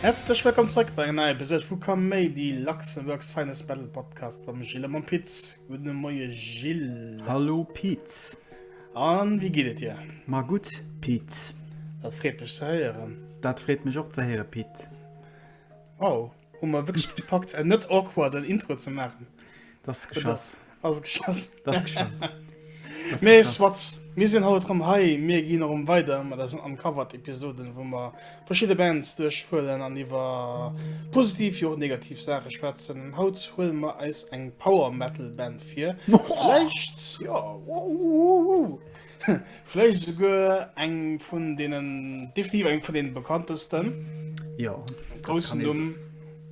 Häerzlech wëllkomm zrëck bei enger neier Episode vu Kaméidi, Luxembourg's finest battle podcast mam Gilles a mam Piz. Gudde Moie Gilles. Hallo Piz. An wéi geet et dir? Ma gutt Piz. Dat freet mech ze héieren. Dat freet mech och ze héiere Piz. Wow, hu mer wëlech gepackt en net awkward en Intro ze maachen. Dat ass geschoss. Dat ass geschoss. Dat ass geschoss. Mee swat, mir sinn haut erëm hei, mir ginn erëm weider mat eisen Uncovered Episoden, wou mer verschidde Bands duerchhuelen an iwwer positiv wéi och negativ Saache schwätzen. An haut huele mer eis eng Power Metal Band vir. Vläicht, jo, wow, wow, wow. Vläicht esouguer eng vun deenen, definitiv eng vun deenen bekanntesten. Jo. Groussen Numm,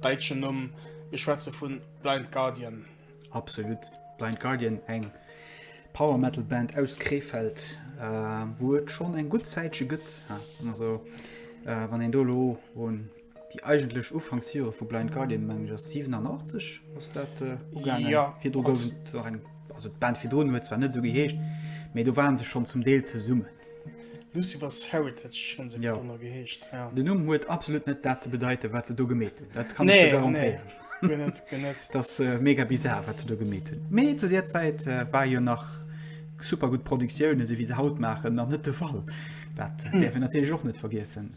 däitschen Numm. Mir schwätze vun Blind Guardian. Absolut. Blind Guardian, eng Power Metal Band aus Krefeld, wou et schonn eng gutt Zäitche gëtt. Also wann een do elo un. Déi eigentlech Ufanksjore vu Blind Guardian mengen ech ass 87 ass dat äh, ugaangen. Ja, virdru gouf et nach eng, also d'Band virdrun huet zwar net esou geheescht, mee do waren se schonn zum Deel zesummen. Lucifer's Heritage hunn se ja. dann geheescht. Ja. Den Numm huet absolut net dat ze bedeite wat se do gemeet hunn. Dat kann nee, ich garantieren. Nee. das äh, mega bizar wat ze do gemet hunn. Mee zu der Zeit äh, war jo nach super gut Produktionioune se wie se haut machen nach net de Fall. Dat äh, hm. derfir natürlich och net vergessen.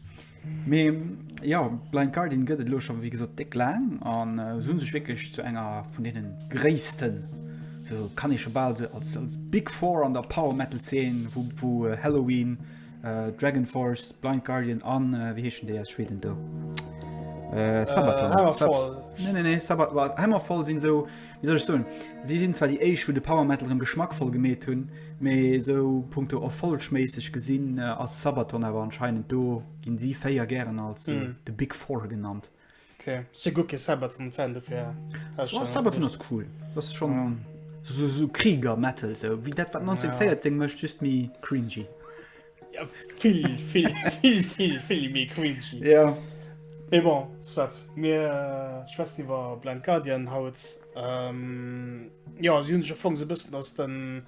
Mee jo, Blind Guardian gëtt et elo scho wéi gesot déck laang an se hunn sech wierklech zu enger vun deenen gréissten, sou kann ee scho bal se als Big Four an der Power Metal Zeen, wou Helloween, Dragon Force, Blind Guardian an wéi heeschen déi aus Schweden do? Sabaton. Hammerfall. Nee, nee, nee, Sabaton, Hammerfall sinn sou Wéi soll ech soen, si sinn zwar déi éischt wou de Power Metal rëm geschmackvoll gemeet hunn, mee esou punkto erfollegméisseg gesinn ass Sabaton awer anscheinend do, ginn si 4 gären als The Big Four genannt. Ok, si guer kee Sabaton Fan dofir. Oh Sabaton ass cool, dat ass schonn esou Krieger Metal esou wéi dat wat 1914 mécht, just méi cringy. Ja, vill, vill, vill, vill, vill méi cringy. Ja. Mais bon, soit. Mir äh, schwätzen iwwer Blind Guardian haut. Ähm, ja, sie hunn sech am so bëssen aus, den,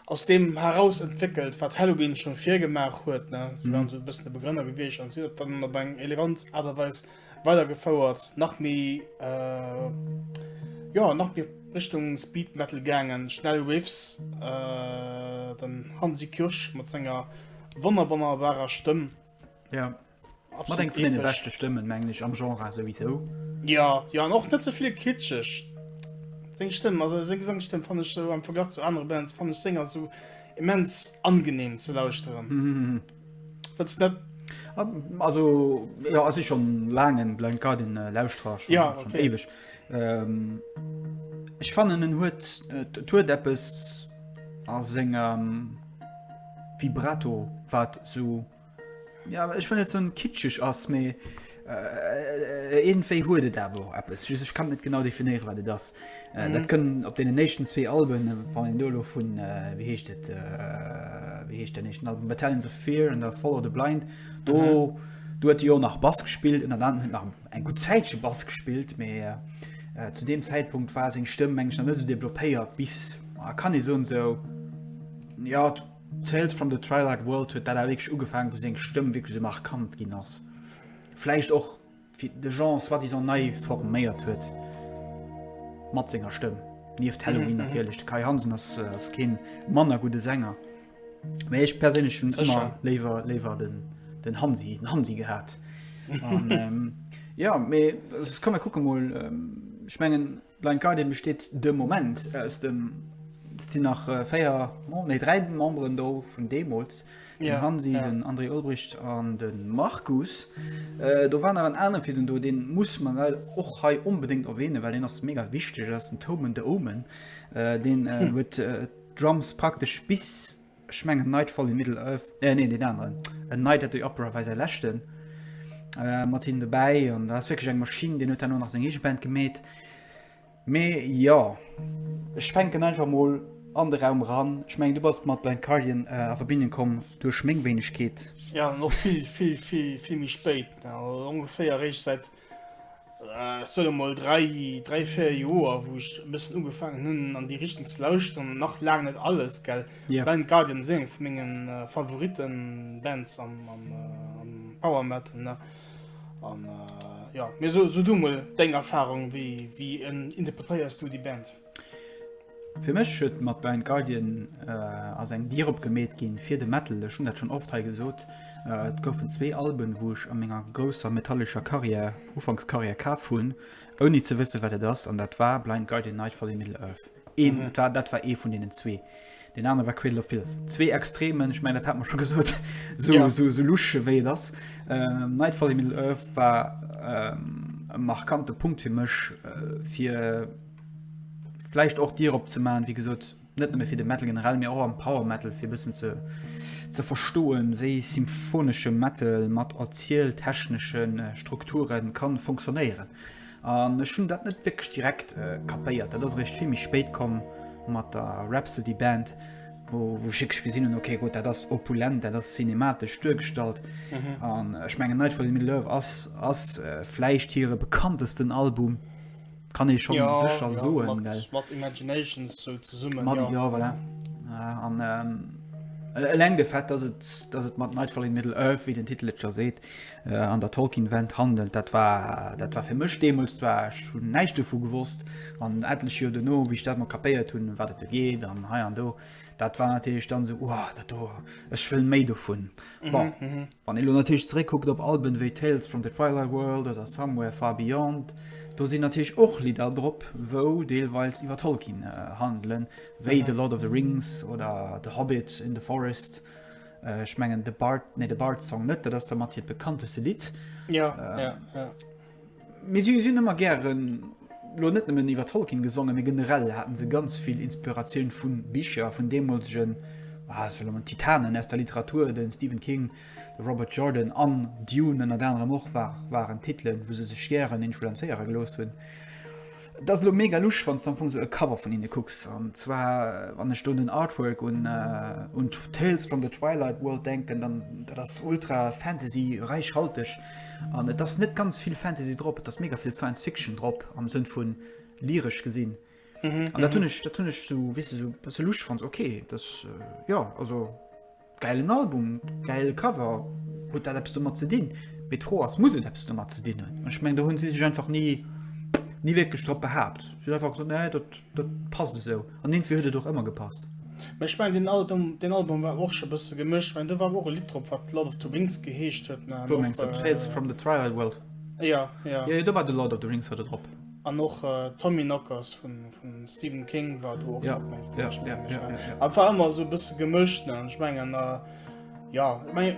aus dem heraus entwickelt, wat Halloween schon virgemaach huet. Ne? Sie mhm. waren so bëssen de Begrënner gewiescht an si dann op eng elegant Aartweis weidergefouert nach méi äh, jo nach méi Richtung Speed Metal gaangen, schnell Riffs äh, den Hansi Kürsch mat senger wonnerbonnerbarer Stëmm. Ja. Mat eng vun den beste Stëmmen mengglech am Genre sowieso. Ja ja an och net zevill kitschech. Seng Stëmm also seng Gesangsstëmm fan ech so am Verglach zu anere Bands fan ech Sänger so immens angenehm ze lauschteren. Wëlls net? Also ja, ass ich schon laang en Blind Guardian äh, Lauschterer schon, ja, okay. schon ewig. Ähm, ich fanen en huet äh, huet eppes a senger ähm, Vibrato wat so ja, ich fan net so kitschig ass méi. Iergendwéi huet et awer och eppes, just ech kann net genau definéieren, wat et ass. Dat kënn op deenen éischten zwee Alben, wann een do elo vun, wéi heescht et, wéi heescht den éischten Album, Battalions of Fear an da Follow the Blind, do, do huet e jo nach Bass gespillt, ënnert anerem huet nach eng gutt Zäitche Bass gespillt, mä zu deem Zäitpunkt war seng Stëmm, meng ech, nach net esou developpéiert, bis, ah, kann ee soen, esou, jo, Tales from the Trilarch World huet dat awer wierklech ugefaangen, wou seng Stëmm wierklech esou markant ginn ass. Vläicht och wéi de Jean soi-disant nei forméiert huet mat senger Stëmm. Nieft Helloween natierlech. De Kai Hansen ass kee manner gudde Sänger. Mee ech perséinlech hunn ëmmer léiwer léiwer den Hansi, den Hansi gehat. An, Jo, mee ech komme kucke mol. Ech mengen. Blind Guardian besteet de Moment aus dem, et sinn nach 4, nee 3 Memberen do vun deemools, den Hansi, den André Olbricht an de Markus. Do war nach en anere Fidden do, dee muss mer leider och hei onbedéngt erwähnen, well deen ass mega wichteg, dat ass den Tomen de Omen. Deen huet d'Drums praktesch bis, Ech mengen Nightfall in Middle Earth, äh nee deen aneren, A Night at the Opera war säi leschten äh, mat him dobäi an dat ass wierklech eng Maschinn. Deen huet herno nach seng eege Band gemeet. Mee jo, ech fänken einfach mol an de Raum eran. Ech mengen du bass mat Blind Guardian äh, a Verbindung komm duerch meng Wéinegkeet. Ja, an och vill, vill, vill, vill méi spéit, ongeféier eréischt säit Soll emol dräi dräi véier Joer wou ech bëssen ugefaangen hunn an déi Richtung ze lauschteren, nach laang net alles gell. Yeah. Blind Guardian ass eng vu mengen äh, Favoriten Bands am, am, äh, am Power Metal ne an äh, jo. Mee so so du mol deng Erfahrung, wéi wéi interpretéiers du déi Band? Fir mech huet mat Blind Guardian ass eng Dier opgemeet ginn fir de Metal. Ech hunn dat schonn oft hei gesot. Et goufen zwee Alben, wou ech a menger grousser metallescher Karriär, Ufankskarriär, kaf hunn, ouni ze wësse wat et ass. An dat war Blind Guardian, Nightfall in Middle-earth. Een, dat war ee vun deenen zwee. Deen anere war Cradle of Filth. Zwee Extremen, ech mengen dat hat mer scho gesot, esou esou louche wéi et ass. Nightfall in Middle-earth war e markante Punkt fir mech, fir, vläicht och Dier opzemaachen, wéi gesot, net nëmme fir de Metal generell, mee och am Power Metal, fir e bëssen ze, ze verstoen, wéi symphonesche Metal mat erzieltechnesche Strukture ka funktionéieren. An ech hunn dat net wierklech direkt kapéiert. Dat ass eréischt vill méi spéit komm mat der Rhapsody Band, wou ech wierklech gesinn hunn, okay, gutt, dat ass opulent, dat ass cinematesch duergestallt. An ech mengen Nightfall in Middle-earth ass, ass vläicht hire bekanntesten Album. kann ee schon ja, secher ja, soen mat, mat imaginations so zesummen mat, ja. ja voilà. an ähm, Eleng de Fett, dass et, dass et mat Nightfall in Middle Earth, wie den Titel et jo seet, äh, an der Tolkien-Wend handelt, dat war, dat war fir mech deemools, war ech hunn näischt dovu gewosst. An etlech Joer duerno, wéi ech dat mat kapéiert hunn, wat et do geet an hei an do, dat war natierlech dann esou, Wow, dat do, ech wëll méi dovun. Mhm, Bon, mhm. Wann ee lo natierlech zeréckkuckt op Alben wéi Tales from the Twilight World oder Somewhere Far Beyond, do sinn natierlech och Lidder drop, wou deelweils iwwer Tolkien handelen, wéi The Lord of the Rings oder The Hobbit in the Forest. Ech mengen The Bard, nee, The Bard's Song net, dat ass der mat hiert bekannteste Lidd. Jo, jo, jo. Mee si hunn ëmmer gären, elo net nëmmen iwwer Tolkien gesongen, mee generell haten se ganz vill Inspiratioun vu Bicher vun deemolegen Titanen aus der Literatur, de Stephen King, de Robert Jordan an Dune ënnert anerem och waren Titelen, wou se sech gären influenzéiere gelooss hunn. Et ass elo mega lusch, wann s de am Fong esou e Cover vun hinne kucks, an zwar wann ech do un den Artwork un Tales from the Twilight World denken, dann dat ass ultra Fantasy, räichhalteg. An et ass net ganz vill Fantasy drop, et ass mega vill Science Fiction drop am Sënn vun lyresch gesinn. Mhm, An dat hunn ech, dat hunn ech so wis du, so se luch fand okay, das äh, ja also geilen Album, geile Cover huet dat Apps mat ze dinn. Met fro ass muss et Apps mat ze dinnen. Ech meng da hunn si sech einfach nie nie wirklich drop behaapt. Si hunn einfach gesagt, nee, dat Dat passt esou, an iergendwéi huet et och ëmmer gepasst. Mä ech mengen, deen Aldum, deen Album war och scho bësse gemëscht. Well do war och e Lidd drop, wat Lord of the Rings geheescht huet. Mä an Wou mengs de? och. Tales from the Twilight World? Ja, ja. Jo, jo, do war de Lord of the Rings war do drop. An och Tommyknockers vum Stephen King war do och Ja, drop, mengen ja, ech, ja, mengen ech. ja, Mä ja, ja. et war ëmmer esou e bësse gemëscht, ne? An ech mengen, ja, ech mengen,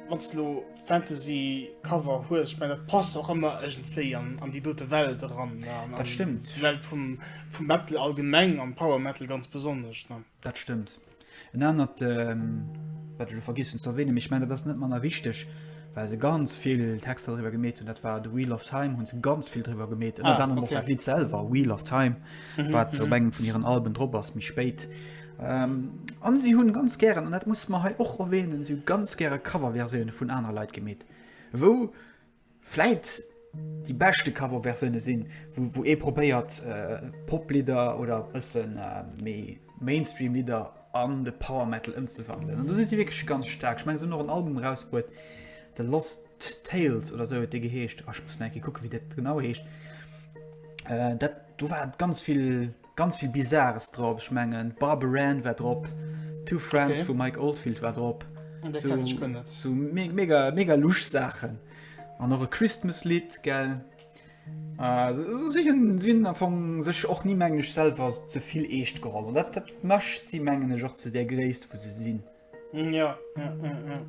wann s de elo Fantasy Cover hues, ech mein dat passt och ëmmer ëgentwéi an an déi dote Welt eran ne, an an d'Welt vum vum Metal allgemeng an Power Metal ganz besonnesch ne. Dat stëmmt. En anert wat ech vergiss hunn ze erwänen, mee ech mein dat ass net manner wichteg, well se ganz vill Texter driwwer gemeet hunn, dat war The Wheel of Time hunn se ganz vill driwwer gemeet, ënnert anerem och dat Lidd selwer Wheel of Time wat op engem vun hiren Alben drop ass méi spéit. An si hunn ganz gären, an dat musse mer hei och erwähnen, si hu ganz gäre Coverversioune vun aner Leit gemeet, wou vläit déi beschte Coverversioune sinn, wou ee probéiert Poplidder oder ësse méi Mainstream Lidder an de Power Metal ëmzewandelen. An do si si wierklech ganz staark. Ech mengen si hunn och en Album erausbruet, The Lost Tales oder esou huet dee geheescht. Ech muss nach eng Kéier kucke wéi dat genau heescht. Dat do war ganz vill. Ganz vill Bizarres drop, ech mengen Barbara Ann war drop, Two Friends okay. vu Mike Oldfield war drop. So, me mega mega luch Saachen an eure Christmas Lied gell sinn am Fong sech och nie mengglech selber ze vill eescht geholll. Dat dat mecht sie mengen ech och ze der Gréisst vu se sinn. Ja, ja, ja, ja.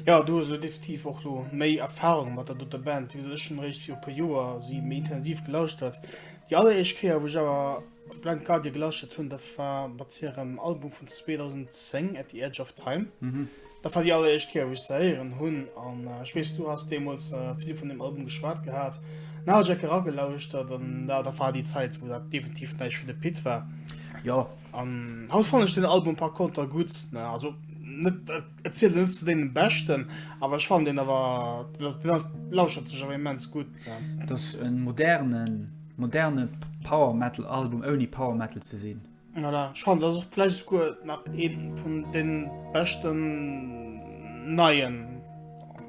Ja, du hast definitiv och lo méi Erfahrung mat der doter Band, wéi sech schon réischt fir e puer Joer si méi intensiv gelauscht hat. Déi alleréischt Kéier, wou ech awer Blind Guardian gelauschtert hunn, dat war mat hirem Album vun 2010, At the Edge of Time. Mhm. Dat war déi alleréischt Kéier, wou ech se héieren hunn. An äh, ech weess, du hast deemools äh, vill vun dem Album geschwat gehat. Na, hat Jack eragelauschtert an da, da war déi Zäit, wou dat definitiv näischt fir de Pit war. Ja, An haut fannen ech den Album par conter gudd, also net et zielt net zu deenen beschten, awer ech fannen deen awer lauschert sech awer immens gudd. Et ass en modernen moderne Power Metal Album ouni Power Metal ze sinn. Voilà, ech fannen et ass och vläicht esouguer nach een vun den beschten neien.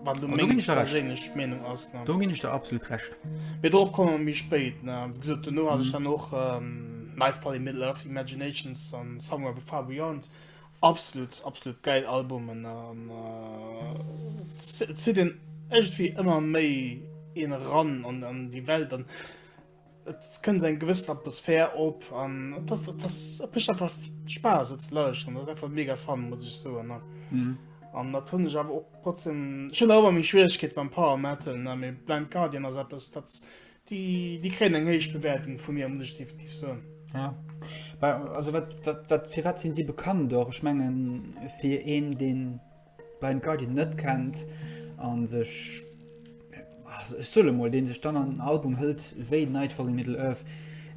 Wann du meng perséinlech Meenung ass do ginn ech der absolut recht. Mee dorop komme mer méi spéit. Gesot duerno hat ech dann och Nightfall in Middle Earth, Imaginations an Somewhere Far Beyond absolut absolut gäil Albumen an zitt een ëmmer méi een eran an déi Welt. Et kënnt eng gewëssen Atmosphär op an et mécht einfach Spaass et ze lauschteren. Dat ass einfach mega fun, muss ech soen. An dat hunn ech awer och trotzdem schonn awer meng Schwieregkeete beim Power Metal, mee Blind Guardian ass eppes, dat déi kréien eng héich Bewäertung vu mir, muss ech definitiv soen. Ja, also wat, wat, wat, firwat sinn si bekannt och? Ech mengen, fir een, deen. Blind Guardian net kennt an sech ech solle mol den sech dann an den Album hëlt wéi Nightfall in Middle Earth,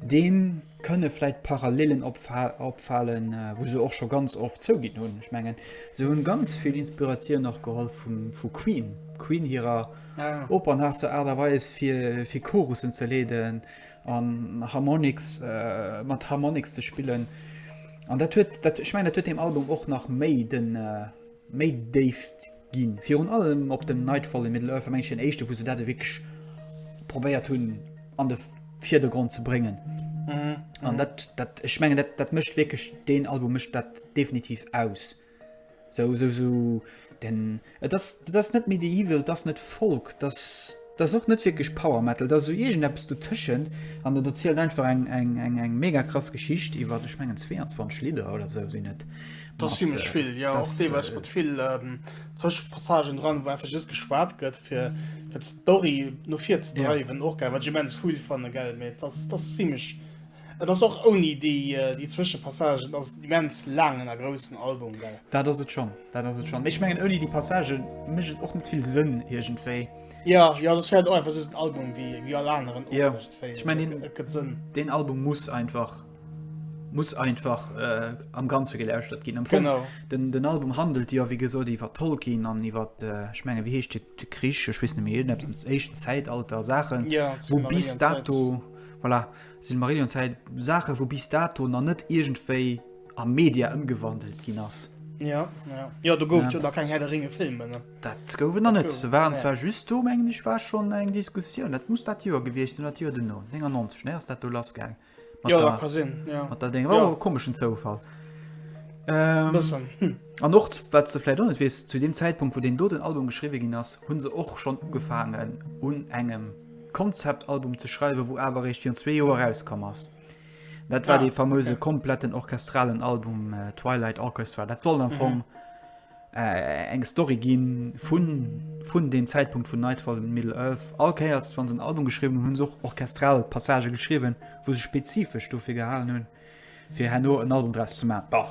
deem kënne vläit Parallelen opfalen, wou se och scho ganz oft zouginn hunn. Ech mengen se hunn ganz vill Inspiratioun och geholl vu Queen, Queen hirer opernhaafter Aart a Weis fir Chorussen ze leeden an Harmonix mat Harmonix ze spillen an dat huet dat ech mein dat huet dem Album och nach méi den méi déift ginn virun allem op dem Nightfall in Middle Earth meng den éischte wou se dat ewéckeg probéiert hunn an de Vierdergrond ze bréngen an dat dat ech mengen dat dat mécht wierklech den Album mécht dat definitiv aus. So, so, so, den, et ass, dat ass net Medieval, dat ass net Folk, dat ass och net wierklech Power Metal, dat ass esou iergendeppes dotëschent. An en erzielt einfach eng, eng, eng, eng mega krass Geschicht iwwer, ech mengen 22 Lidder oder esou sinn et. Dat ass zimlech vill, jo. Och deelweis mat vill Zëschenpassagen dran, wou einfach just geschwat gëtt, fir d'Story no vir ze dreiwen. Och gäil, wat ech immens cool fanne, gell. Mee dat ass zimlech. Et ass och ouni déi Zwëschepassagen ass et en immens laangen a groussen Album, gell? Dat ass et schonn, dat ass et schonn. Mee ech mengen, ouni déi Passagë mécht et och net vill Sënn iergendwéi. Ja, jo, dat wäert och einfach soss en Album wéi, wéi all aneren och iergendwéi. Jo, ech mengen, deen, et gëtt Sënn. Deen Album muss einfach, muss einfach am Ganze gelauschtert ginn. Am Fong, den, den Album handelt jo, wéi gesot, iwwer Tolkien an iwwer, ech menge wéi heescht de, de Krich, ech weess net méi, iergendepps, Éischt Zäitalter, Saachen, wou bis dato, voilà. Silmarillion Zäit, Saache wou bis dato nach net iergendwéi a Media ëmgewandelt ginn ass. Jo, jo. Jo, do gouf et jo nach keng Här der Ringe Filmen, ne? Dat gouf et nach net. Se waren zwar just do, mengen ech war schonn eng Diskussioun, dat muss dat Joer gewiescht sinn oder d'Joer duerno, 99, ne, ass dat do lass gaang mat der. Jo, dat ka sinn, jo. Mat der Déng, war och e komeschen Zoufall. E bëssen, hm. An och, wat s de vläicht och net weess, zu deem Zäitpunkt wou deen doten Album geschriwwe ginn ass, hu se och schonn ugefaangen un engem. Konzeptalbum ze schreiwen, wou awer eréischt virun zwee Joer erauskomm ass. Dat war ah, dee fameuse okay. kompletten orchestralen Album äh, Twilight Orchestra. Dat soll am mhm. Fong äh, eng Story ginn vun, vun dem Zäitpunkt vun Nightfall in Middle Earth. Alkéiers wann se en Album geschrieben hunn, hunn se och orchestral Passage geschrieben, wou se spezifesch dofir gehalen hunn. fir herno en Album draus ze maachen. Bon,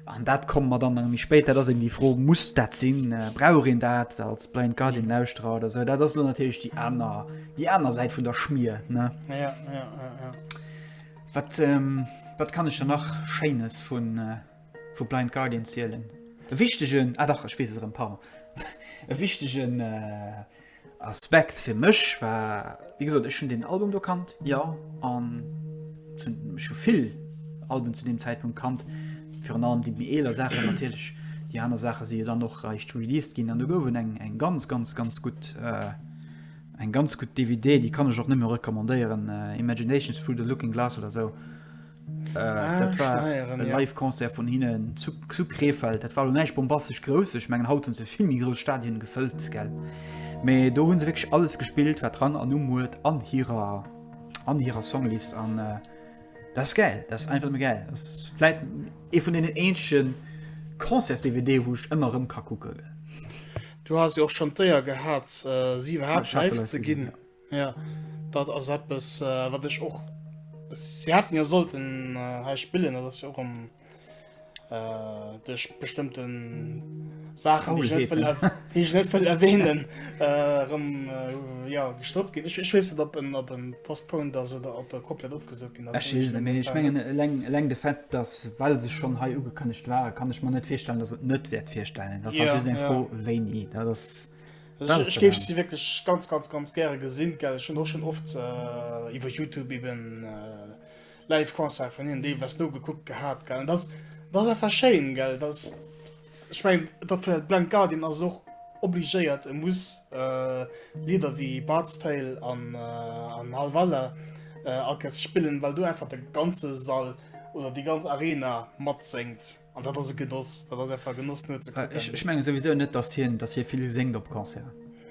an dat komme mer dann nach méi spéit, dat ass eben déi Fro, muss dat sinn, brauch een dat als Blind Guardian-Lauschterer oder esou? Dat ass elo natierlech déi aner, déi aner Säit vun der Schmier, ne? Ja, ja, ja, ja. Wat, wat kann ech der nach Schéines vu Blind Guardian zielen? E wichtegen, ah dach, ech weess et erëm, pardon, e wichtegen. Aspekt fir mech war, wéi gesot, ech hunn deen Album do kannt, jo, an ech hu vill Alben zu deem Zäitpunkt kannt, virun allem déi méi eeler Saachen natierlech. Déi aner Saache si jo dann och eréischt released ginn an do gouf et eng ganz, ganz, ganz gutt, eng ganz gutt DVD, déi kann ech och nëmme recommandéieren, Imaginations through the Looking Glass oder esou. Äh, dat war Steieren, e ja. Live-Concert vun hinnen zu, zu Krefeld. Dat war näich bombastesch grouss. Ech mengen haut hunn se vill méi grouss Stadien gefëllt gell. Mee do hunn se wéch alles gespillt, wat dran an um huet an hirer an hirer Songlist an äh, das gell, das einfach mé gell. Dasläit e vun den enschen Concerts-DVD, wo ech ëmmer rëm ka kucke. Du hast jo och schon d'Éier gehat, äh, si iwwerhaapt live ze ginn. Ja, dat ass eppes, äh, wat ech och. Sie hätten ja sollten äh, hei spillen, dat ass ja och am. Äh, duerch bestëmmten Sachen, die ich net Faulheeten. wëll er- die ich net wëll erwähnen, äh, rem, äh, ja, gestoppt ginn. Ech, ech weess net, ob en, ob en postponed ass oder ob er komplett ofgesot ginn ass. Ech weess net, mee ech mengen eleng, eleng de Fait, dass well se schonn hei ugekënnegt waren, kann ech mer net virstellen, dass et net wäert virstellen. Dat ass Ja, natierlech eng ja. Fro wéini. Dat ass. Also ech géif si wierklech ganz ganz ganz gäre gesinn, gell ech hun och schon oft äh, iwwer Youtube eben äh, live Concert vun hinnen deelweis nogekuckt gehat, gell dat dat ass einfach schéin, gell dat ech mein dat fir Blind Guardian ass och obligéiert e muss äh, Lieder wéi Bard's Tale an äh, an Halvalla äh, Alcest spillen, well do einfach de ganze Sall oder déi ganz Arena matséngt. An dat ass e Genoss, dat ass einfach e Genoss net ze kucken. Äh, ech, ech menge souwisou net, dass hien, dass hie vill séngt op Concert.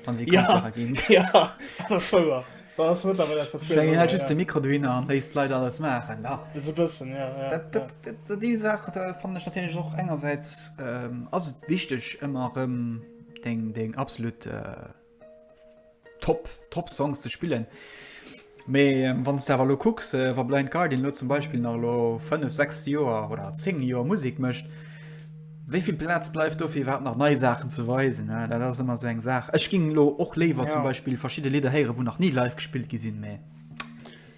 Wann si Concert ginn. Ja, dat ass wouer. Dat ass mëttlerweil aus der Tür. Menge hat just de Mikro do hinner an léisst d'Leit alles maachen. Da. Esou bëssen, ja. ja, dat, dat, ja. Dat, dat, déi Saach da fannen ech natierlech och engersäits ähm, ass et wichteg ëmmer erëm deng, deng absolut äh, Top, top Songs ze spillen. Mee ähm, wann du awer lo kucks äh, war Blind Guardian lo zum Beispiel nach lo 5 6 Joer oder 10 Joer Musik mëcht, wéivill Platz bleift do fir wat nach nei Sachen ze weisen ne? dat ass immer so eng Saach. Ech ging lo och léiwer ja. zum Beispiel verschiedene Lieder héiere, wo nach nie live gespielt gesinn méi.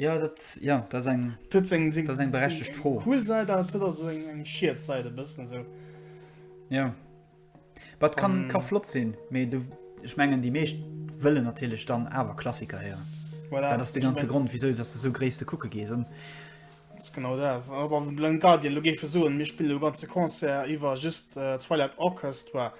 Ja dat ja dat ass eng dat ass eng dat ass eng berechtegt Fro. Eng cool Säit awer et huet och esou eng eng Schied Säit e bëssen esou. Ja wat kann ka flott sinn mee du ech mengen déi meescht wëllen natierlech dann awer Klassiker héieren. Voilà, dat ass de ganze Grond wisou dass de sou gréisste kucke gees an. Dat ass genau dat Blind Guardian lo géif e soen mir spille lo ganze Concert iwwer just Twilight Orchestra.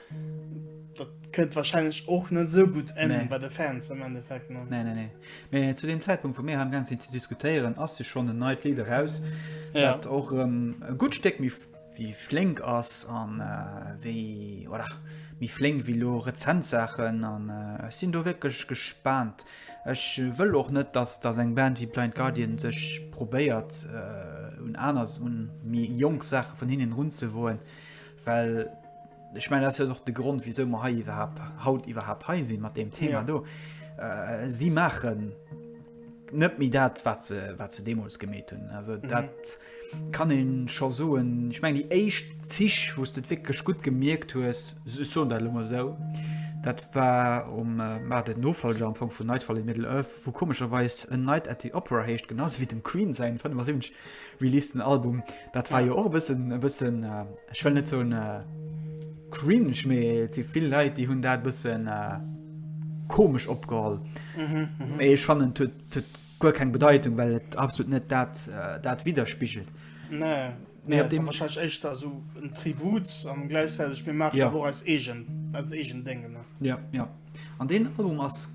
Dat kënnt wahrscheinlech och net sou gutt en nee. bei de Fans am Endeffekt. Nee, nee, nee. Mee zu dem Zäitpunkt vu mir ha ganz ze diskutéieren ass se schon en neit Lied raus ja. dat och ähm, e gut Steck mi wie flink ass an äh, wie oder mi flink wie lo Rezentsachen an äh, sinn do wirklich gespannt. Ech wëll och net, dass das eng Band wie Blind Guardian sech probéiert äh, un anders un mi Jong Sache vun hinnen run ze woen. Well ech meine, dat ass jo och de Grond, wisou mer hei iwwerhaupt haut iwwerhaupt hei sinn mat deem Thema do. Si maachen net méi dat, wat se wat se deemools gemeet hunn. Also dat kann een scho soen. Ech meng déi éischt Zich, wou s du et wierklech gut gemierkt hues, ech soen dat lo mol esou, dat war um war den Nofolger am Fong vun Nightfall in Middle-earth, wou komescherweis en Night at the Opera heescht, genauso wéi dem Queen säin 75. Release den Album dat war jo och bëssen e bëssen ech well net zoun äh, cringe mee ze vill Leiit déi hunn dat bëssen äh, komesch opgeholl. Mhm, mhm. Mee ech fannen huet huet guer keng Bedeitung, well et absolut net dat äh, dat widerspigelt. Nee. Mir Nee, op dem- dem wahrscheinlich echt da so ein Tribut an gleichzeitig mir machen Ja. ja. aber als Egen, als Egen Dinge. Ne? Ja, ja. An den Album ass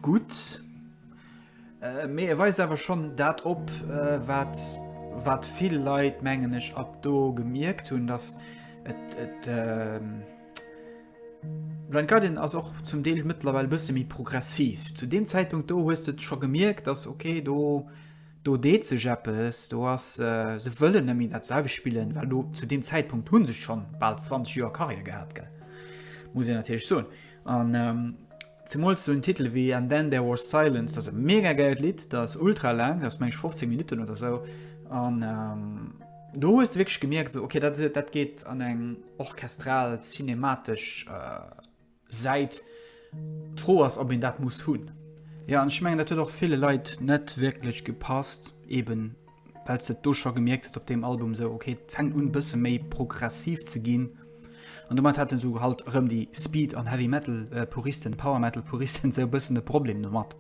gut. Mee e weist awer schonn dat op, wat wat vill Leit, mengen ech, ab do gemierkt hunn, dass et et Blind Guardian ass och zum Deel mëttlerweil e bësse méi progressiv. Zu deem Zäitpunkt do hues de scho gemierkt, dass okay, do do deet sech eppes, do ass se wëllen net méi dat selwecht spillen, well do zu deem Zäitpunkt hu se schonn bal 20 Joer Karriär gehat, gell, muss een natierlech soen an. Zemools sou en Titel wéi And Then There Was Silence, dat ass e mega gäilt Lidd, dat ass ultra laang, dat ass mengen ech 15 Minutten oder sou an do hues de wierklech gemierkt sou, okay dat dat geet an eng orchestral cinematesch Säit. D'Fro ass, ob een dat muss hunn. Jo an ech mengen dat huet och ville Leit net wierklech gepasst, eben well s de et do scho gemierkt hues op deem Album esou, okay, et fänkt un e bësse méi progressiv ze ginn. An domat hätten esou halt erëm déi Speed an Heavy Metal Puristen, Power Metal Puristen esou e bëssen e Problem domat.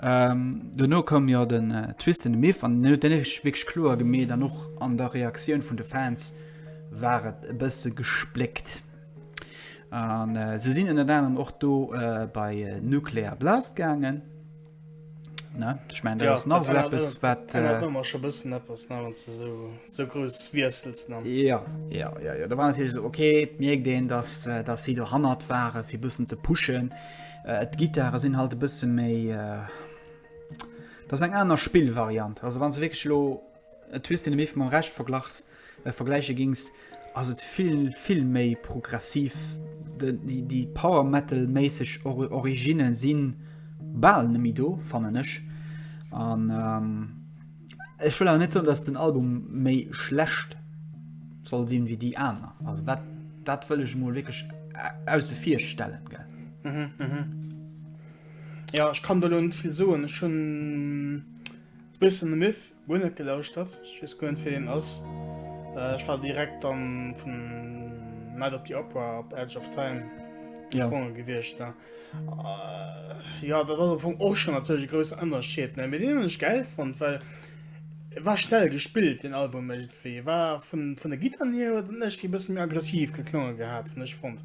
Ähm, dono koum jo den äh, Twist in the Myth an den huet ech wéch kloer gemeet an och an der Reaktioun vun de Fans war et e bësse gespléckt. An äh, se sinn ënner anerem och do äh, bei äh, Nuclear Blast gaangen. Ne? Ich meine, ja, nach so etwas, was. Äh, schon ein bisschen etwas, ne, wenn du so, so groß wechselst. Ne? Ja, ja, ja, ja. Da war natürlich so, okay, merkt den, dass, äh, dass sie da hannert waren, für ein bisschen zu pushen. Äh, die Gitarre sind halt ein bisschen mehr. Äh, das ist eine andere Spielvariante. Also, wenn sie wirklich lo, Et hues de nemme mam Recht verglachs, äh vergläiche gings, ass et vill vill méi progressiv. De déi déi Power Metal méisseg Ori Originne si bal nemme do fannen ech. An ähm ech wëll awer net soen dass den Album méi schlecht soll sinn wéi déi aner. Also dat dat wëll ech mol wierklech ausse vir stellen gell. Mhm mhm. Jo ech kann do lo net vill soen, ech hunn. Wilson the Myth, guer net gelauschtert, ech wees guer net wee deen ass. Ech war direkt dann vun Night of the Opera op Edge of Time gesprongen ja. gewiescht. Ne? Äh, ja, dat ass vum och schon natürlich größer Ënnerscheet ne mit denen ech geil fand, weil er war schnell gespielt den Album irgendwie. Er war vun, vun der Gitter hier huet net wie bëssen mir aggressiv geklonge gehabt hun ech fand.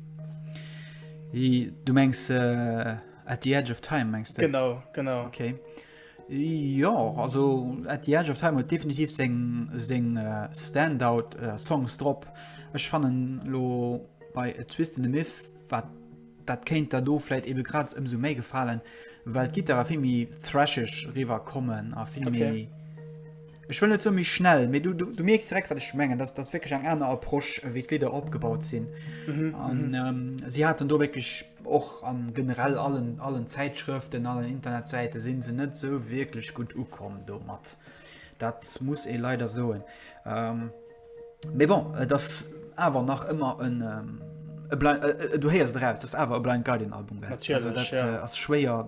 Du mengst äh, at the edge of time mengst du? Genau genau. Okay. Jo, also At the Edge of Time huet definitiv seng seng Standout Songs drop. Ech fannen lo bei A Twist in the Myth wat dat kéint der do fläit ebe grad ëmsou méi gefalen, well d'Gittare vill méi thrasheg riwwer kommen a vill méi. Okay. Ech wëll net sou méi schnell, mee du, du, du mierks direkt, wat ech mengen. Dat ass wécklech eng aner Approche, wéi d'Lidder opgebaut sinn. Mhm, an mhm. ähm, si haten do wécklech och an generell allen, allen Zäitschrëften, allen Internetsäite sinn se net sou wierklech gut ukomm do mat. Dat muss ee leider soen. Ähm, mee bon, et ass awer nach ëmmer en. Ähm, Äh, äh, du heiers draus das awer e blind Guardian Album ass schwéier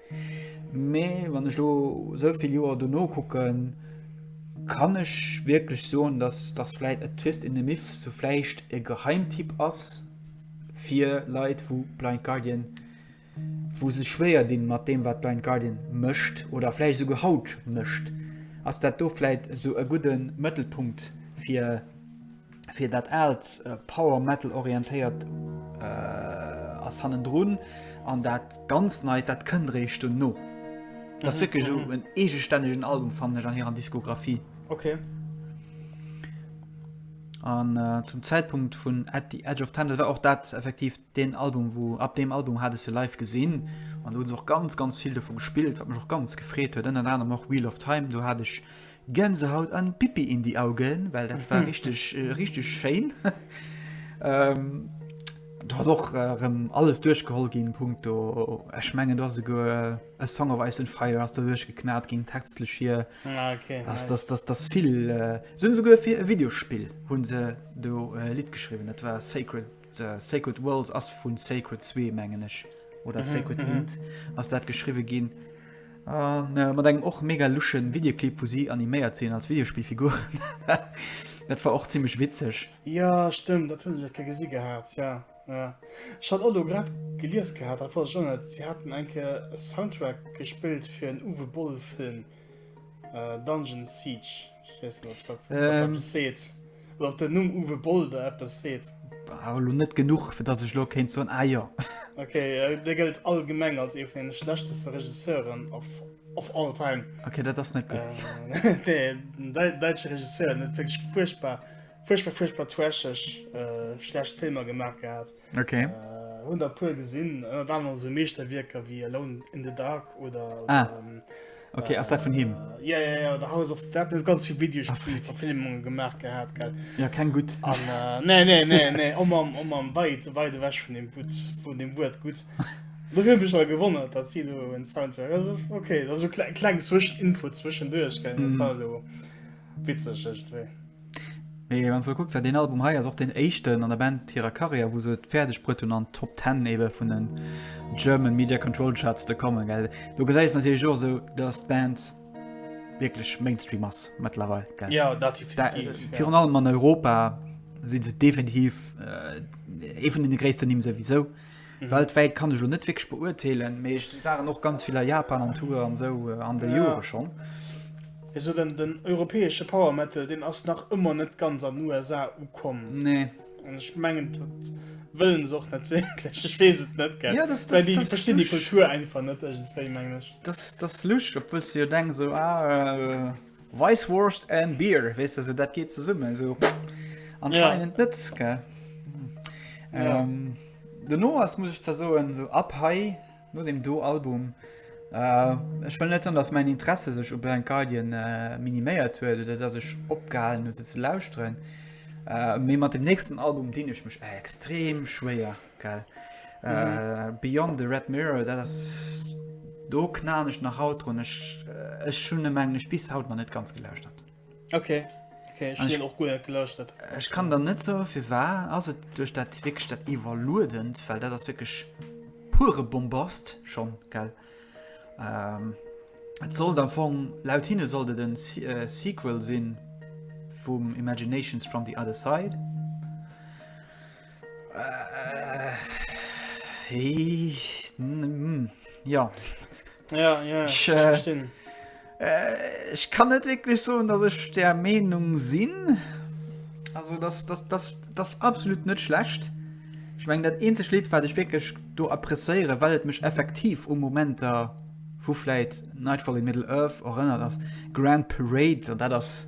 Mee wann ech lo sou vill Joer dono kucken, kann ech wierklech soen, dass dass vläit A Twist in the Myth sou vläicht e Geheimtipp ass fir Leit wou Blind Guardian, wou sech schwéier dinn mat deem wat Blind Guardian mécht oder vläicht esouguer haut mécht, ass dat do vläit esou e gudde Mëttelpunkt fir. fir dat aalt äh, Power Metal orientéiert äh, ass hannen drun an dat ganz neit dat kënnt réicht du no. Das mhm, wirklich mhm. en egestännegen Album fan an hier an Diskografie. Okay. An äh, zum Zeitpunkt vun at the Edge of Time dat war auch dat effektiv den Album wo ab dem Album hat se live gesinn an du auch ganz ganz viel davon gespielt, wat mech auch ganz gefreet huet ënner anderem noch Wheel of Time, du hat ich Gänsehaut an Pipi in die Augen, well dat war richteg richteg schéin. Du ass och erëm alles duerchgeholl ginn Punkt do ech mengen dat se go e Song of Ice and Fire ass der duerch geknat ginn textlech hier ah, okay, das, das, das, das vill äh, sinn souguer fir e Videospill hunn se do äh, Lied geschriwwen, dat war Sacred The Sacred Worlds ass vun Sacred 2 mengen ech oder mhm, Sacred mhm. Int ass dat geschriwe ginn. An äh, mat engem och mega luschen Videoclip vu si animéiert sinn als Videospielfigur. dat war och ziemlich witzeg. Ja stimmt, dat hunn ke gesi gehabt ja. Ja. Ich hat Aldo grad geliers gehabt, dat war schon net. Sie hatten enke Soundtrack gespielt fir en Uwe Boll Film äh, Dungeon Siege. Ech weess net, ob dat eppes seet. Oder ob den Numm Uwe Boll der eppes seet. War elo net genuch, fir datt ech elo kéint soen, ah jo. Ok, dee gëllt allgemeng als ee vun deene schlechteste Regisseuren of all time. Ok, dat ass net gutt. Nee, den däitsche Regisseur, en huet wierklech fuerchtbar, fuerchtbar, fuerchtbar trasheg, schlecht Filmer gemaach gehat. Okay. Äh, hun der puer gesinn, ënner äh, aner so Meeschterwierker wéi Alone in the Dark oder. Ah. Oder, ähm, Okay, ass dat vun him? Äh, ja, ja, ja, da House of Dead, net ganz vill Videospiel ah, Verfilmunge gemaach gehabt, gell? Ja, keng gut. An, äh, nee, nee, nee, nee, om am, om am weit, weit weg vun dem Wut, vun dem Wut gut. Dofir bech da gewonnen, dat si du en Soundtrack. Also, okay, dat so kleng Zwischeninfo zwischendurch, gell? Mm. Witzeg, echt, weh. Mee wann s du kucks, dat deen Album hei ass och deen éischten an der Band hirer Karriär, wou se et fäerdeg bruet hunn, an d'Top Ten ebe vun den German Media Control Charts ze kommen. Gell? Do gesäis natierlech och esou, datt d'Band wierklech Mainstream ass mëttlerweil. Gell? Ja, dat definitiv. Da, virun allem an Europa si se definitiv ee vun deene gréissten Nimm souwisou. Weltwäit kann ech lo net wierklech beurteelen, mee ech waren och ganz vill a Japan an Tour an esou an de Jore schonn. Esou den den europäesche Power Metal, deen ass nach ëmmer net ganz an den USA ukomm. Nee. An ech mengen dat wëllen se och net wierklech, ech weess et net. Ja, dass dass dass verstinn déi Kultur einfach net iergendwéi mengen ech. Dass dass lusch, obwuels du jo denks esou ah. Weisswurst and beer, weess de, sou dat geet zesummen, sou anscheinend net, gell? Dono ass, muss ech zwar soen, sou ab hei, no dem Do-Album, ech wëll net soen, datt mäin Interesse sech u Blind Guardian miniméiert huet oder datt ech opgehalen hu se ze lauschteren, mee mat dem nächsten Album dinn ech mech extrem schwéier. Geil. Mhm. Äh, Beyond the Red Mirror, dat ass do knan ech nach haut run ech äh, ech hun em englech bis haut man net ganz gelöscht hat okay okay ich, ich, auch gut gelöscht hat ich kann dann net so viel war also durch dat wegstadt überludend weil der das wirklich pure bombast schon geil ähm, soll dann von laut hin sollte den äh, sequel sinn vum imaginations from the other side Ja Ech kann net wécklech soen, datt ech der Meenung sinn. Also dat absolut net schlecht. Ech meng dat eenzeg Lidd wat ech wécklech do appréciéiere well et mech effektiv u Momenter vu vläit Nightfall in Middle-earth erënnert ass Grand Parade an dat ass.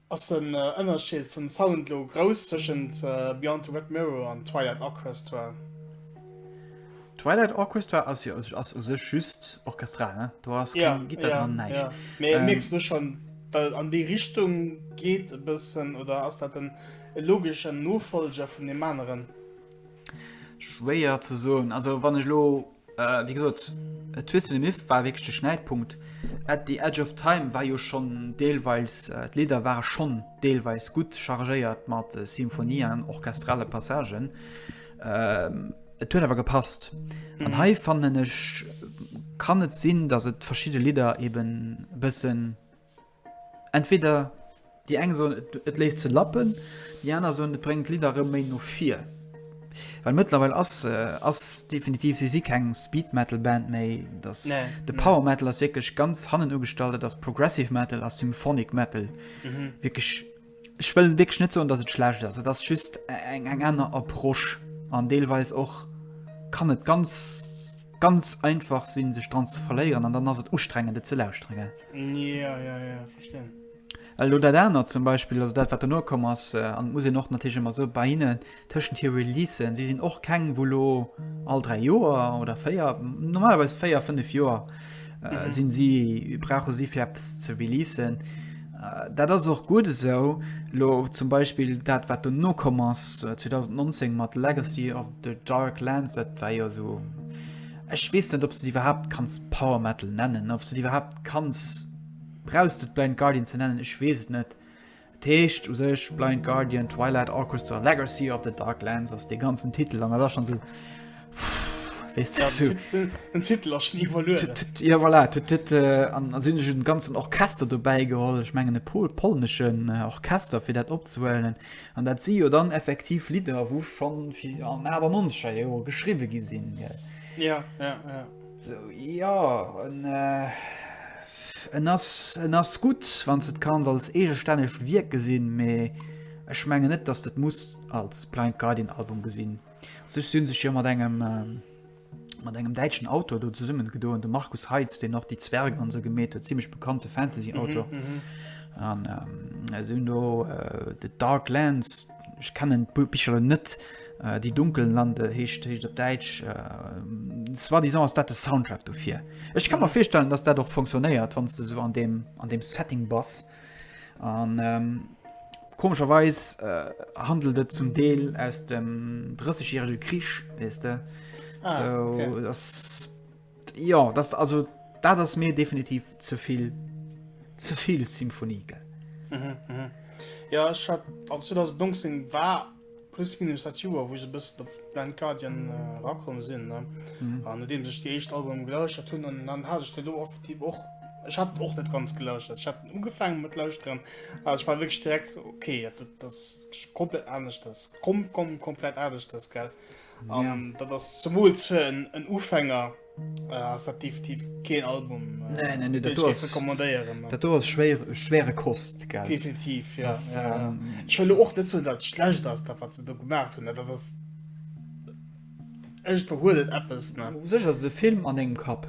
Ass den Ënnerscheed vun Sound lo grouss tëschent Beyond the Red Mirror an Twilight Orchestra? Twilight Orchestra ass jo ass u sech just orchestral, ne? Do ass keng yeah, Gitter yeah, dran, näischt. Yeah. Mee ähm, mierkst du schon, dat an déi Richtung geet e bëssen, oder ass dat den logeschen Nofolger vun dem aneren? Schwéier ze soen. Also wann ech lo äh, wie gesot Twist the Myth war wég de Schnäitpunkt. At the Edge of Time war jo schon deelweils äh, d'Lieder waren schon deelweils gut chargéiert mat äh, Symphonien, orchestrale Passagen. Ähm, et huet awer gepasst. Mhm. An hei fannen ech kann et sinn, dass et verschiedene Lieder eben bëssen Entweder déi eng soen, et léisst se lappen, déi aner soen, et bréngt d'Lidder erëm méi no vir. Well mëttlerweil ass, ass definitiv, si si keng Speed-Metal-Band méi. Dass de Power Metal ass wierklech ganz hannen ugestallt, et ass Progressive Metal, ass Symphonic Metal. Wierklech. Ech wëll wierklech net soen, dass et schlecht ass. Et ass just eng eng aner Approche an deelweis och kann et ganz ganz einfach sinn, sech dran ze verléieren an dann ass et ustrengend et ze lauschteren, gell? Ja, ja, ja, verstinn. Elo dat anert zum Beispill, also dat wat dono komm ass, an muss een och natierlech ëmmer soe bei hinnen, Tëschent hir Releasen, si sinn och keng wou lo all 3 Joer oder 4, normalerweis 4, 5 Joer sinn si, brauche si fir eppes ze releasen. Dat ass och gutt esou. Lo zum Beispill dat wat dono komm ass 2019 mat Legacy of the Dark Lands, dat war jo esou, ech weess net ob s de déi iwwerhaapt kanns Power Metal nennen, ob s de déi iwwerhaapt kanns, brauchs de d'Blind Guardian ze nennen, ech weess et net. Dat heescht u sech Blind Guardian, Twilight Orchestra, Legacy of the Dark Lands ass dee ganzen Titel an da schon so. Den Titel ass nie verluer. Ja voilà, äh, an sinn den ganzen Orchester dobäi geholl. Ech mengen e pol polneschen äh, Orchester fir dat opzewellen. an dat si jo dann effektiv Lider, wo schon fir an awer nonscher Joer geschriwe gi sinn. Ja, ja, ja. So, ja, und, äh, En ass, en ass gutt, wann s de et kanns als eegestännegt Wierk gesinn, mee ech mengen net, dass s de et muss als Blind Guardian Album gesinn. U sech si sech jo mat engem, mat engem däitschen Autor do zesummen gedoen, de Markus Heitz, deen och déi Zwergen an esou gemeet huet, zimmlech bekannte Fantasy Autor. An si hunn do The Dark Lands, Ech kennen d'Bicher elo net. Die dunklen Lande heescht heescht op Däitsch. Soi disant ass dat de Soundtrack dofir. Ech kann mer virstellen, dass dat och funktionéiert, wann du so an dem, an dem Setting bass. An ähm, komischerweis äh, handelt et zum Deel aus dem 30-jährige Krich, wees de. Ah, so, okay. das Jo, dat also dat ass mir definitiv zevill zevill Symphonie gell. Mhm, mhm. Ja ech hat an 2019 war plus minus dat Joer wou se bëssen op Blind Guardian äh, rakomm sinn ne mhm. an deem sech déi echt Album geléuscht hunn an dann hat ech de do effektiv och Ech hat och net ganz geléuscht ich hat ugefangen mat lausren a ich war wirklich direkt so, okay dat, das komplett anders das kom kom komplett anders das gell. Äh, Ja. Um, dat ass zumools fir en, en Ufänger äh, ass dat definitiv keen Album äh, nee, nee, nee, dat ass, recommandéieren. Dat do ass schwéier, schwéiere Kost gell? Definitiv ja. Das, ja, ja. Ähm, Ech wëlle och net hunn, dat schlecht ass dat wat ze do gemacht hunn, dat ass Ech verhuelt Appppes ne. Sech ass de Film an engem Kapp.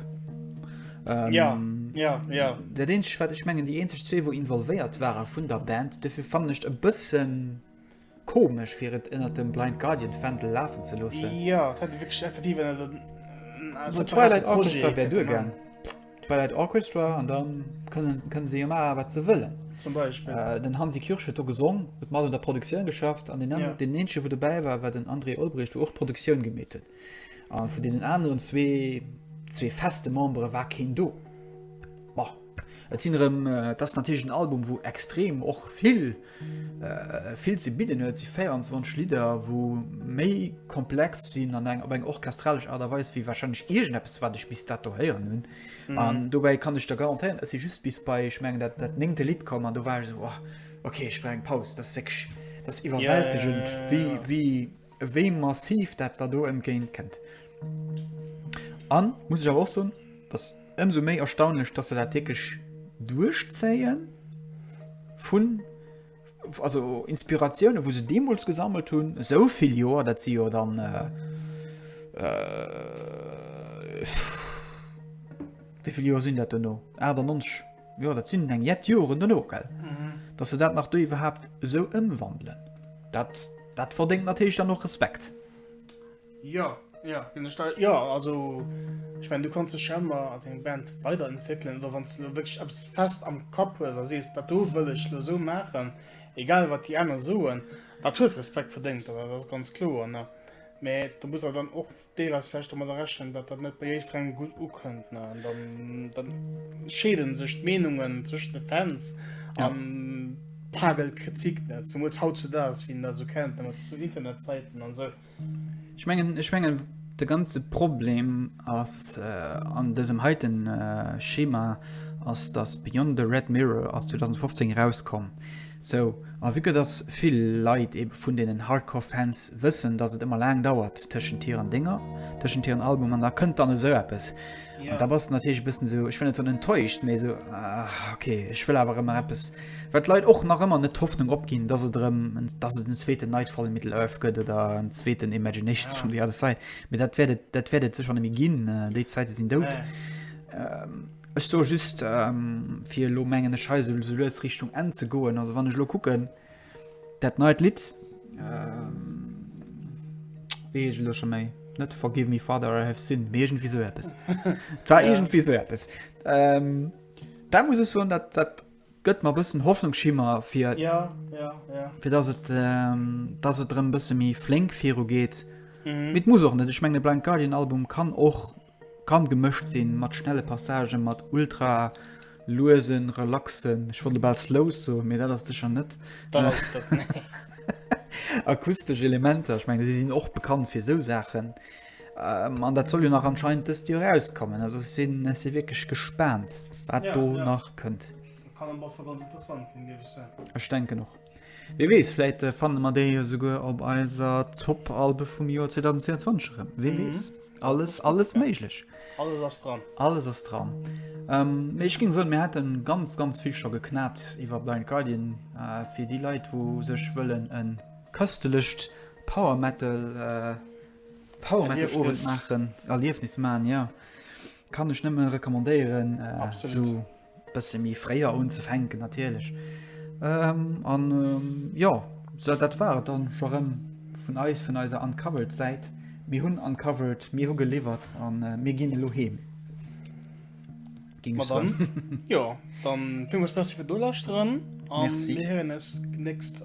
Ähm, ja. Ja, ja. Der den ich mengen die en zwee wo involvéiert waren vun der Band defir fannecht e bëssen Komesch fir et ënnert dem Blind Guardian Fändel lafen ze loossen. Ja, dat hätt wierklech effektiv ënnert en äh, So Twilight separaten Orchestra Projet wär duer gegangen. gemangen. Twilight Orchestra an da kënnen, kënnen se jo maachen, wat se wëllen. Zum Beispill. Äh, den Hansi Kürsch huet do gesong, huet mat un der Produktioun geschafft an den, an, Ja. den eenzege wou dobäi war, war den André Olbrecht, wou och d'Produktioun gemeet huet. A vun deenen aneren zwee, zwee feste Membere war keen do. Bon, et sinn erëm, äh, dat ass natierlech en Album, wou extrem och vill Vill ze bidden huet. Si 24 Lidder, wou méi komplex sinn an eng op eng orchestralesch Aart a Weis wéi wahrscheinlech iergendeppes, wat ech bis dato héieren hunn. An dobäi kann ech der garantéieren, ech si just bis bei, ech mengen, dat dat néngte Lidd komm an do war ech esou, oh, okay, ech brauch eng Paus. Dat ass wierklech, dat ass iwwerwältegend, wéi, wéi, wéi massiv dat da do entgéint kënnt. An muss ech awer och soen, dass ëmsou méi erstaunlech, dass se dat wierklech duerchzéien vun also Inspiratioune wou se deemools gesammelt hunn, esou vill Joer, dat si jo dann äh, äh, wéivill Joer sinn dat duno? 98 Jo dat sinn eng jett Joren duno gell, mhm. dass se dat nach do iwwerhaapt esou ëmwandelen. Dat Dat verdéngt natierlech dann och Respekt. Jo, jo, ginn ech dei. Jo, also ech mengen, du kanns dech jo ëmmer als eng Band weiderentwéckelen oder wann s de elo wierklech eppes fest am Kapp hues a sees, dat do wëll ech elo esou maachen, egal wat déi aner soen, dat huet Respekt verdéngt, dat ass ganz kloer, ne? Mä do muss awer dann och. Deel ass vläicht domadder rechnen, datt dat net bei jiddwerengem gutt ukënnt, ne? An dann, dann scheede sech d'Meenungen zwëschen de Fans ja. an pagelt Kritik net. Zumools haut zu daags, wien dat sou kennt, mat zu Internetsäiten an sou. Ech mengen, ech mengen, de ganze Problem ass äh, an dësem heiten äh, Schema ass, datt Beyond the Red Mirror aus 2015 rauskomm. So, a vue que dass vill Leit ebe vun deenen Hardcore Fans wëssen, dass et ëmmer laang dauert tëschent hiren Dénger, tëschent hiren Album an da kënnt dann esou eppes, an da bass de natierlech e bëssen esou, ech wëll net soen enttäuscht, mee esou, ah, ok, ech wëll awer erëm eppes, wat d'Leit och nach ëmmer net d'Hoffnung opginn, dass et erëm, dass et en zweeten Nightfall in Middle-earth gëtt oder en zweeten Imaginations from the Other Side, mee dat wäert et, dat wäert et sécher net méi ginn, déi Zäite sinn dout. Ech soe just, fir elo, mengen ech, hei esou lues Richtung Enn ze goen, also wann ech elo kucken, dat neit Lidd, wéi heescht et elo scho méi? Net Forgive me, Father, I have sinned, mee iergendwéi esou eppes. Et war iergendwéi esou eppes. Da muss ech soen, dat, dat gëtt mer e bëssen Hoffnungsschimmer fir, fir datt et, datt et erëm e bësse méi flénk virugeet. Mee et muss och net. Ech mengen, e Blind Guardian Album kann och. Kann gemëscht sinn mat schnelle Passagen, mat ultra luesen, relaxen, ech wollt bal slow soen, mee dat ass et sécher net, akustesch Elementer, ech mengen si sinn och bekannt fir esou Saachen an dat soll jo nach anscheinend dëst Joer erauskommen. Also ech sinn, ech si wierklech gespaant, wat do nach kënnt. Ech denken och. Wie weess, vläit fanne mer déi jo souguer op eiser Top-Albe vum Joer 2022 erëm, wie weess. Alles alles méiglech. Alles ass dran. Alles ass dran. Ähm, ech ging soll mir hätte ganz ganz viel schon geknat iwwer Blind Guardian äh, fir die Leiit wo sech wëllen en köstelecht Power Metal äh, Power Metal Erliefnis. machen Erliefnis man ja kann ech nëmme recommandéieren äh, Absolut. so Bësse méi fréier unzefänken natierlech. An jo, sou dat war et dann scho rëm vun eis, vun eiser Uncovered-Säit. Mir hunn uncovered, mir hu geliwwert a mir ginn elo heem. Jo, dann villmools Merci fir d'Nolauschteren a mir héieren eis d'nächst.